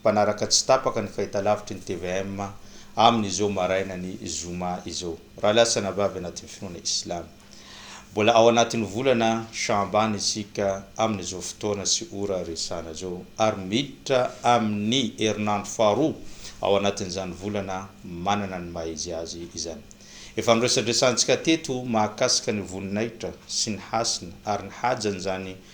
mpanaraka tsy tapaka ny fahitalavitry ny tvm amin' izao maraina ny zoma izao raha lasana vavy anatin' ny finoana islamo. Mbola ao anatin' ny volana Sha'aban isika amin' izao fotoana sy ora resahana izao ary miditra amin' ny herinandro faharoa ao anatin' izany volana manana ny maha izy azy izany. Efa noresadresahantsika teto mahakasika ny voninahitra sy ny hasina ary ny hajan' izany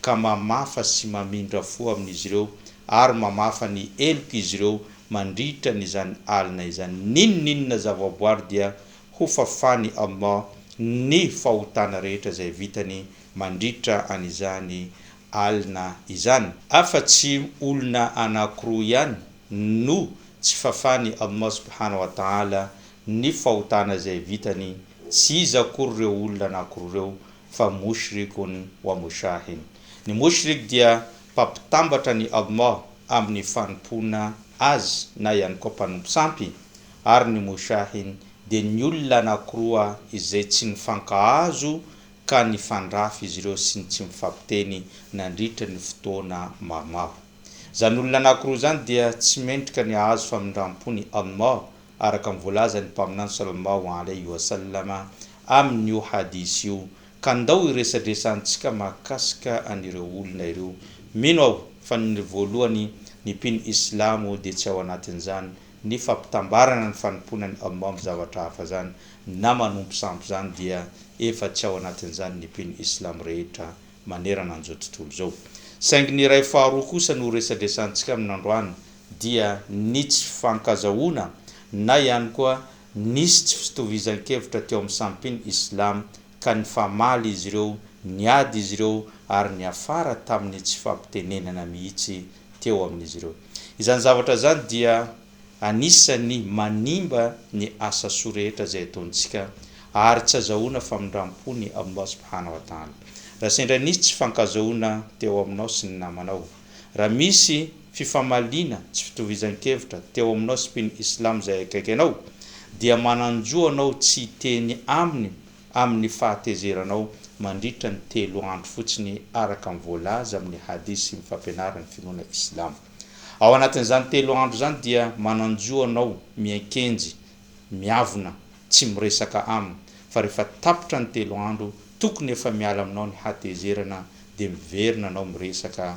ka mamafa sy mamindra fo amin'izy ireo ary mamafa ny helok'izy ireo mandritra ny izany alina izany, n'inon'inona zavaboary dia hofafany Allah ny fahotana rehetra izay vitany mandritra an'izany alina izany. Afa-tsy olona anankiroa ihany no tsy fafany Allah subhana wa ta'ala ny fahotana izay vitany, tsy iza akory ireo olona anankiroa ireo fa Mushrikun wa Mushahin. Ny Mushrik dia mpampitambatra an'i Allah amin'ny fanompoana Azy na ihany koa mpanompo sampy, ary ny Mushahin dia ny olona anankiroa izay tsy nifankahazo ka nifandrafy izy ireo sy ny tsy mifampiteny nandritra ny fotoana maromaro. Izany olona anankiroa izany dia tsy mendrika ny hahazo famindram-pon' i Allah araka ny voalazan'ny Mpaminany Sallallahu alaihi wa sallam amin'io hadith io, ka ndao hiresadresantsika mahakasika an'ireo olona ireo. Mino aho fa ny voalohany ny mpino islamo dia tsy ao anatin'izany ny fampitambarana ny fanompoana an'i Allah amin'ny zavatra hafa izany na manompo sampy izany dia efa tsy ao anatin'izany ny mpino islamo rehetra manerana an'izao tontolo izao. Saingy ny iray faharoa kosa no resadresantsika aminy androany dia ny tsy fifankazahoana na ihany koa nisy tsy fitovizan-kevitra teo amin'ny sampin Islam ka nifamaly izy ireo, niady izy ireo ary niafara tamin'ny tsy fampitenenana mihitsy teo amin'izy ireo. Izany zavatra izany dia. anisan'ny manimba ny asa soa rehetra izay ataontsika ary tsy azahoana famindram-po ny Allah subhana wa ta'ala. Raha sendra nisy tsy fankazahoana teo aminao sy ny namanao, raha misy fifamaliana tsy fitovizan-kevitra teo aminao sy mpino Islam izay akaiky anao, dia manan-jo anao tsy hiteny aminy amin'ny fahatezeranao mandritra ny telo andro fotsiny araka ny voalaza amin'ny hadith sy ny fampianaran'ny finoana islamo. Ao anatin'izany telo andro izany dia manan-jo anao miankenjy, miavona, tsy miresaka aminy, fa rehefa tapitra ny telo andro tokony efa miala aminao ny hatezerana dia miverina anao miresaka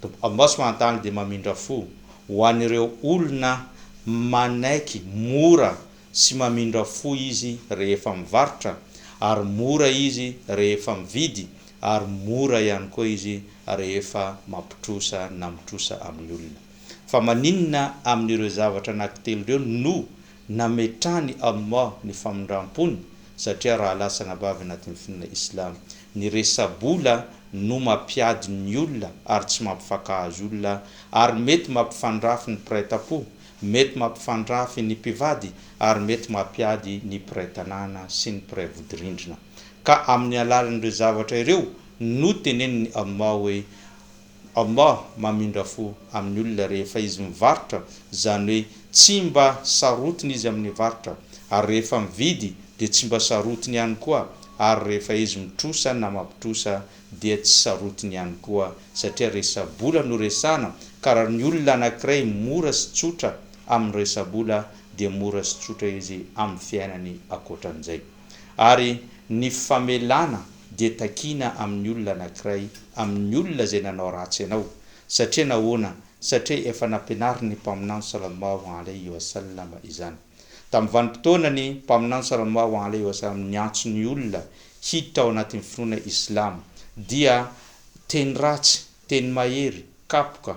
Tompo Allah subhanahu wa ta'ala dia mamindra fo ho an'ireo olona manaiky, mora sy mamindra fo Izy rehefa mivarotra, ary mora Izy rehefa mividy, ary mora ihany koa Izy rehefa mampitrosa na mitrosa amin'ny olona. Fa maninona amin'ireo zavatra anankitelo ireo no nametrahan'i Allah ny famindram-pony? Satria raha latsana bavy anatin'ny finoana Islamo Ny resa-bola no mampiady ny olona ary tsy mampifankahazo olona ary mety mampifandrafy ny mpiray tampo, mety mampifandrafy ny mpivady ary mety mampiady ny mpiray tanàna sy ny mpiray vodirindrina. Ka amin'ny alalan'ireo zavatra ireo no tenenin'i Almà hoe. Allah mamindra fo amin'ny olona rehefa izy mivarotra, izany hoe tsy mba sarotiny izy amin'ny varotra, ary rehefa mividy dia tsy mba sarotiny ihany koa, ary rehefa izy mitrosa na mampitrosa dia tsy sarotiny ihany koa, satria resa-bola no resahana, ka raha ny olona anankiray mora sy tsotra amin'ny resa-bola dia mora sy tsotra izy amin'ny fiainany ankoatran'izay. Ary ny famelana dia takiana amin'ny olona anankiray, amin'ny olona izay nanao ratsy anao. Satria nahoana? Satria efa nampianarin'ny Mpaminany Sallallahu alaihi wa sallam izany. Tamin'ny vanim-potoana ny Mpaminany Sallallahu alaihi wa sallam niantso ny olona hiditra ao anatin'ny finoana Islamo dia teny ratsy, teny mahery, kapoka,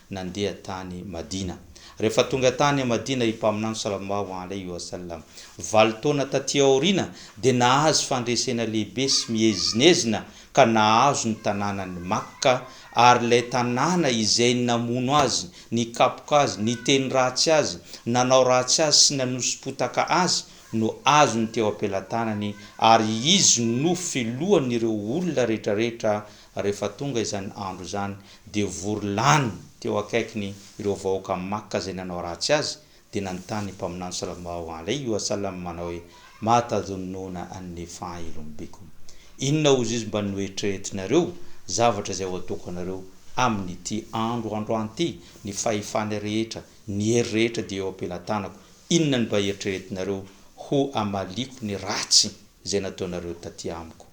nandeha tany Madina. Rehefa tonga tany Madina i Mpaminany Sallallahu alaihi wa sallam, valo taona taty aoriana, dia nahazo fandresena lehibe sy miezinezina ka nahazo ny tanànan'i Makka, ary ilay tanàna izay namono azy, nikapoka azy, niteny ratsy azy, nanao ratsy azy sy nanosi-potaka azy, no azony teo am-pelatanany, ary izy no filohan'ireo olona rehetrarehetra rehefa tonga izany andro izany dia vory lany teo akaikiny ireo vahoaka Makka izay nanao ratsy azy, dia nanontany ny Mpaminany sallallahu alaihi wa sallam manao hoe, Ma tadhunnuna anni faa'ilun bikum? Inona hozy izy mba noeritreretinareo, zavatra izay ho ataoko anareo, amin'ity andro androany ity? Ny fahefana rehetra, ny hery rehetra dia eo am-pelatanako, inona ny mba eritreretinareo ho hamaliako ny ratsy izay nataonareo taty amiko?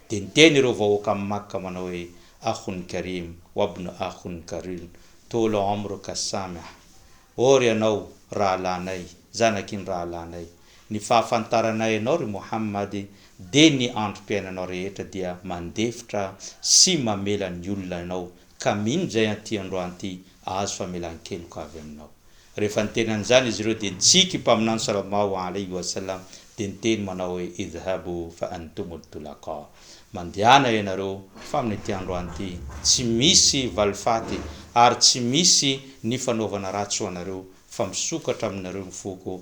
Dia niteny ireo vahoaka amin'i Makka manao hoe, Akhun Karim, wabn Akhun Karun, Toul omr ka Samih, Ô ry ianao rahalahinay, zanaky ny rahalahinay, ny fahafantaranay anao ry Mohammad dia ny androm-piainanao rehetra dia mandefitra sy mamela ny olona anao Ka mino izay an'ity androany ity ahazo famelan-keloka avy Aminao. Rehefa niteny an'izany izy ireo dia nitsiky io Mpaminany Sallallahu Alaihi Wasallam dia niteny manao hoe, Idhhabu fa antumul tulaqa, Mandehana ianareo fa amin'ity androany ity tsy misy valifaty ary tsy misy ny fanaovana ratsy ho anareo fa misokatra aminareo ny foko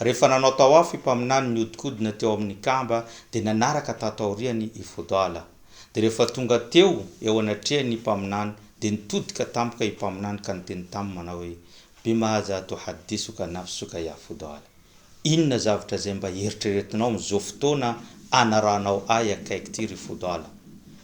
Rehefa nanao tawaf i Mpaminany nihodinkodina teo amin' ny Kaaba dia nanaraka tato aoriany i Fudala. Dia rehefa tonga teo eo anatrehan' i Mpaminany dia nitodika tampoka i Mpaminany ka niteny taminy manao hoe, Bimadha tuhaddithuka nafsuka ya Fudala? Inona zavatra izay mba eritreretinao amin' izao fotoana anarahanao ahy akaiky ity ry Fudala?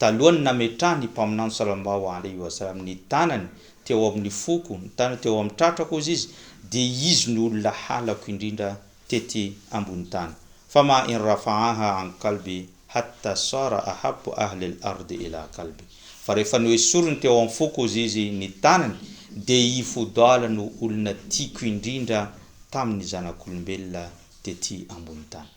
Talohan'ny nametrahan'ny mpaminany salambahoala io asa amin' ny tanany teo amin' ny foko, ny tanany teo amin' ny tratrako, hozy izy, dia izy no olona halako indrindra tety ambony tany. Fama in rafa'aha an qalbi hatta sara ahabbu ahli al-ardi ila qalbi. Fa rehefa noesoriny teo amin'ny foko, hozy izy, ny tanany, dia i Fudala no olona tiako indrindra tamin' ny zanak'olombelona tety ambony tany.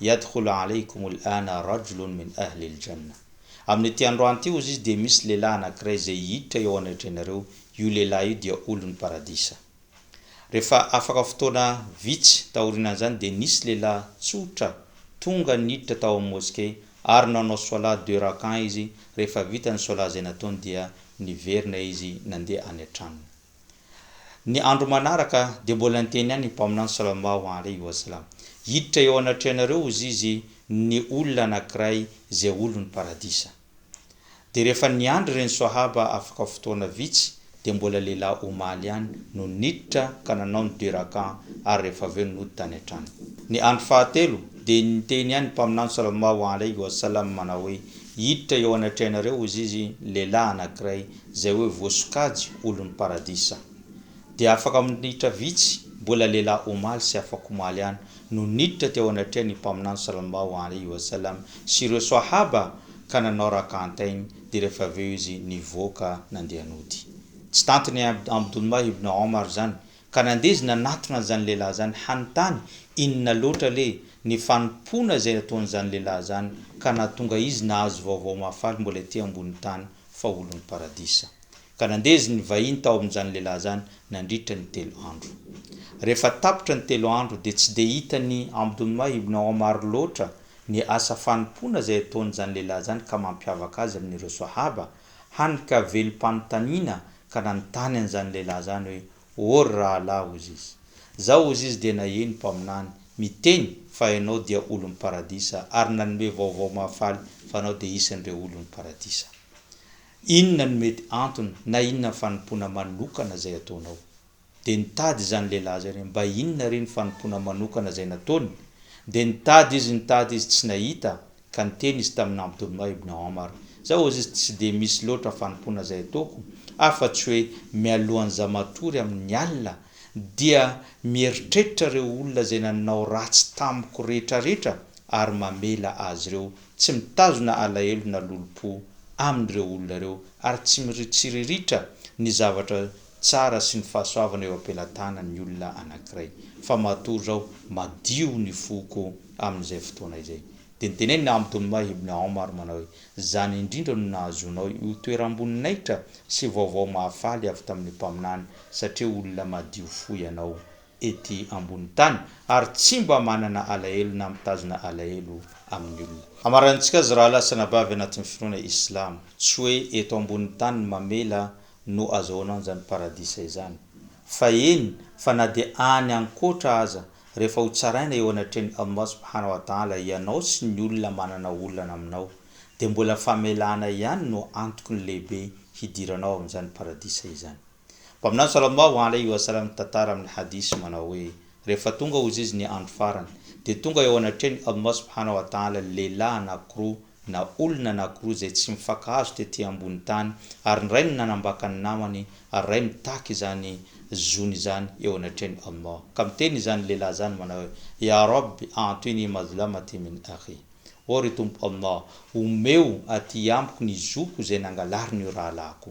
Yadkhulu alaykum al-ana rajulun min ahli al-jannah. Amin'ity androany ity, hozy Izy, dia misy lehilahy anankiray izay hiditra eo anatrehanareo, io lehilahy io dia olon'ny Paradisa. Rehefa afaka fotoana vitsy taorianan'izany dia nisy lehilahy tsotra tonga niditra tao amin'ny moske ary nanao Swalah deux rak'ah izy, rehefa vita ny Swalah izay nataony dia niverina izy nandeha any an-tranony. Ny andro manaraka dia mbola niteny ihany ny Mpaminany Salallahu alaihi wa sallam, Hiditra eo anatrehanareo hozy Izy ny olona anankiray izay olon'ny Paradisa. Dia rehefa niandry ireny Swahaba afaka fotoana vitsy dia mbola lehilahy omaly ihany no niditra ka nanao ny deux rak'ah ary rehefa avy eo no nody tany an-trano. Ny andro fahatelo dia niteny ihany ny Mpaminany Salallahu alaihi wa sallam manao hoe, Hiditra eo anatrehanareo hozy Izy ny lehilahy anankiray izay hoe voasokajy olon'ny paradisa, dia afaka minitra vitsy, mbola lehilahy omaly sy afakomaly ihany, no niditra teo anatrehan'ny Mpaminany Sallallahu Alaihi Wasallam sy ireo Swahaba ka nanao Rak'atain dia rehefa avy eo izy nivoaka nandeha nody. Tsy tantin'i Abdullah ibn Omar izany ka nandeha izy nanatona an'izany lehilahy izany hanontany inona loatra le ny fanompoana izay nataon'izany lehilahy izany ka nahatonga izy nahazo vaovao mahafaly mbola ety ambonin'ny tany fa olon'ny Paradisa. Ka nandeha izy nivahiny tao amin'izany lehilahy izany nandritra ny telo andro. Rehefa tapitra ny telo andro dia tsy dia hitan'i Abdullah ibn Omar loatra ny asa fanompoana izay ataon'izany lehilahy izany ka mampiavaka azy amin'ireo Sahaba, hany ka velom-panontaniana ka nanontany an'izany lehilahy izany hoe, Or rahalahy Ozizy. Zao Ozizy dia naheno mpaminany miteny fa ianao dia olon'ny paradisa ary nanome vaovao mahafaly fa anao dia isan'ireo olon'ny paradisa. Inona no mety antony na inona ny fanompoana manokana izay ataonao? Dia nitady izany lehilahy izany hoe mba inona re ny fanompoana manokana izay nataony? Dia nitady izy nitady izy tsy nahita Ka niteny izy tamin' Abdullah ibn Omar, Za hozy izy tsy dia misy loatra fanompoana izay ataoko afa tsy hoe mialohan' za matory amin' i Allah dia mieritreritra ireo olona izay nanao ratsy tamiko rehetrarehetra ary mamela azy ireo, tsy mitazona alahelo na lolompo amin' ireo olona ireo ary tsy miritsiriritra ny zavatra tsara sy ny fahasoavana eo am-pelatanany ny olona anankiray, fa matoa izao madio ny foko amin'izay fotoana izay. Dia nitenen'i Naam Doumah ibn Omar manao hoe, Izany indrindra no nahazoanao io toeram-boninahitra sy vaovao mahafaly avy tamin'ny Mpaminany, satria olona madio fo ianao ety ambony tany, ary tsy mba manana alahelo na mitazona alahelo amin'ny olona. Hamaranintsika azy raha lasa anabavy anatin'ny finoana islamo, tsy hoe eto ambony tany ny mamela no azahoana an'izany paradisa izany. Fa eny fa na dia any ankoatra aza, rehefa ho tsaraina eo anatrehan'i Allah subhanahu wa ta'ala ianao sy ny olona manana olana aminao, dia mbola famelana ihany no antoky ny lehibe hidiranao amin'izany paradisa izany. Mpaminany sallallahu alaihi wa sallam mitantara amin'ny hadith manao hoe, Rehefa tonga ozizy ny andro farany, dia tonga eo anatrehan'i Allah subhanahu wa ta'ala ny lehilahy anankiroa, na olona anankiroa izay tsy mifankahazo tety ambony tany, ary ny ray no nanambaka ny namany, ary ray mitaky izany zony izany eo anatrehan'i Allah. Ka miteny izany lehilahy izany manao hoe, Ya Rabb, a'tini mazlamati min akhi. Ô ry Tompo Allah, omeo aty amiko ny zoko izay nangalarin'io rahalahiko.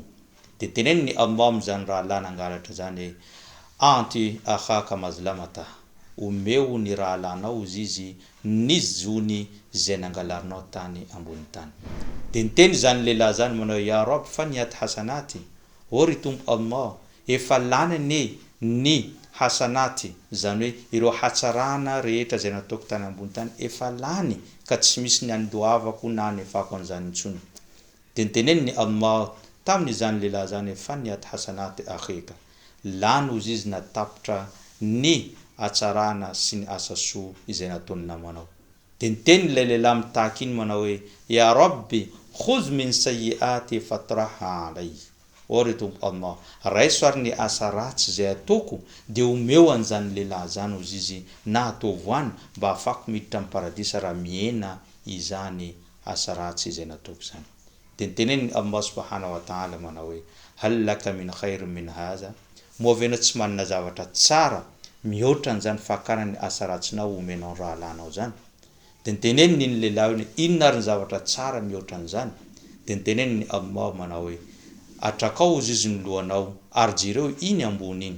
Dia teneno ny Allah amin'izany rahalahy nangalatra izany hoe, A'ti akhaka mazlamatah, Omeo ny rahalahinao ozizy ny zony izay nangalarinao tany ambony tany. Dia niteny izany lehilahy izany manao hoe, Ya Rabb faniyat hasanati, Oh ry Tompo Allah, efa lany anie ny hasanati, izany hoe ireo hatsarana rehetra izay nataoko tany ambony tany efa lany ka tsy misy ny andoavako na anefako an'izany intsony. Dia niteneniny Allah tamin' izany lehilahy izany hoe, Fanihat hasanat akhika, lany ho zizina tapitra ny hatsarana sy ny asa soa izay nataon' ny namanao. Dia niteny ilay lehilahy mitaky iny manao hoe, Ya Rabbi, khudh min sayyiati fatrahha alay, Ô ry Tompo Allah, raiso ary ny asa ratsy izay ataoko dia omeo an' izany lehilahy izany ho zizy na ataovo any mba hahafahako miditra ny Paradisa raha mihena izany asa ratsy izay nataoko izany. Dia niteneniny Allah subahana wa ta'âlâ manao hoe, Hal laka min khayr min hâzâ? Moa ve ianao tsy manana zavatra tsara mihoatra an'izany fakana ny asa ratsinao ho omenao ny rahalahinao izany? Dia niteneniny iny lehilahy iny, Inona ary ny zavatra tsara mihoatra an'izany? Dia niteneniny Allah manao hoe, Atrakao ho zizo ny lohanao ary jereo iny ambony iny.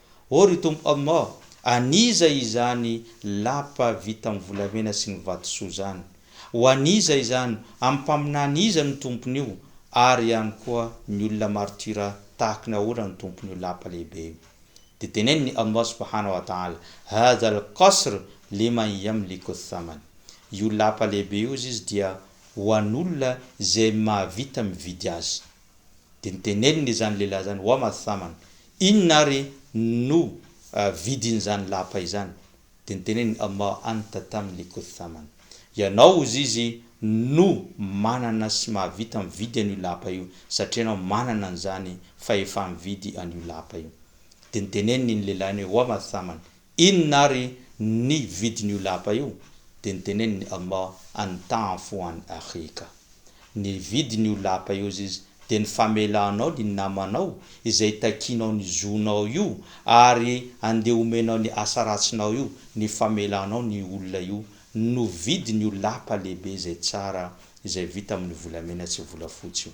Oh ry Tompo Allah, an'iza izany lapa vita amin'ny volamena sy ny vatosoa izany? Ho an'iza izany? Amin'ny mpaminany iza no tompon'io? Ary ihany koa ny olona martyra tahaka ny ahoana no tompon'io lapa lehibe io? Dia tenenin'i Allah subhanahu wa ta'ala, Hadha al-qasr liman yamliku ath-thaman, Io lapa lehibe io, hozy izy, dia ho an'olona izay mahavita mividy azy. Dia noteneniny izany lehilahy izany, Ho'a Mathaman, inona ary no vidin'izany lapa izany? Dia noteneniny, Amma anta tam likut thaman, Ianao, hozy izy, no manana sy mahavita mividy an'io lapa io, satria ianao manana an'izany fahefa-mividy an'io lapa io. Dia noteneniny iny lehilahy iny hoe, Ho'a Mathaman, Inona ary ny vidin'io lapa io? Dia niteneniny Allah, Antanfo an akhika. Ny vidin'io lapa io, hozy Izy, dia ny famelanao ny namanao izay takianao ny zonao io ary andeha omenao ny asa ratsinao io, ny famelanao ny olona io no vidin'io lapa lehibe izay tsara izay vita amin'ny volamena sy volafotsy io.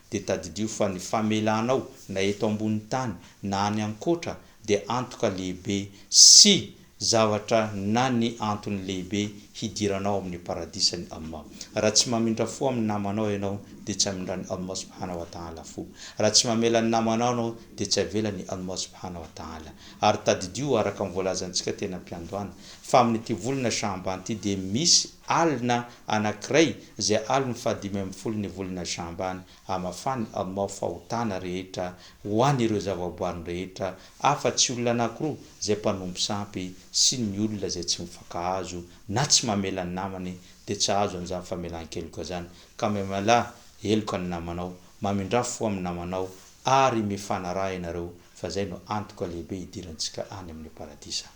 dia tadidio fa ny famelanao na eto ambony tany na any ankoatra dia antoka lehibe sy zavatra na ny antony lehibe hidiranao amin'ny paradisan'i Allah. Raha tsy mamindra fo amin'ny namanao ianao dia tsy amindran'i Allah subhana wa ta'ala fo. Raha tsy mamela ny namanao ianao dia tsy avelan'i Allah subhana wa ta'ala. Ary tadidio araka ny voalazantsika teny am-piandohana fa amin'ity volana Sha'ban ity dia misy Alina anankiray izay alin'ny fahadimy ambin'ny folo ny volana Sha'ban, hamafany Allah fahotana rehetra ho an'ireo zavaboariny rehetra, afa-tsy olona anankiroa izay mpanompo sampy sy ny olona izay tsy mifankahazo na tsy mamela ny namany, dia tsy hahazo an'izany famelan-keloka izany. Ka mihamela heloka ny namanao, mamindrà fo amin'ny namanao ary mifanaraha ianareo, fa izay no antoka lehibe hidirantsika any amin'ny Paradisa.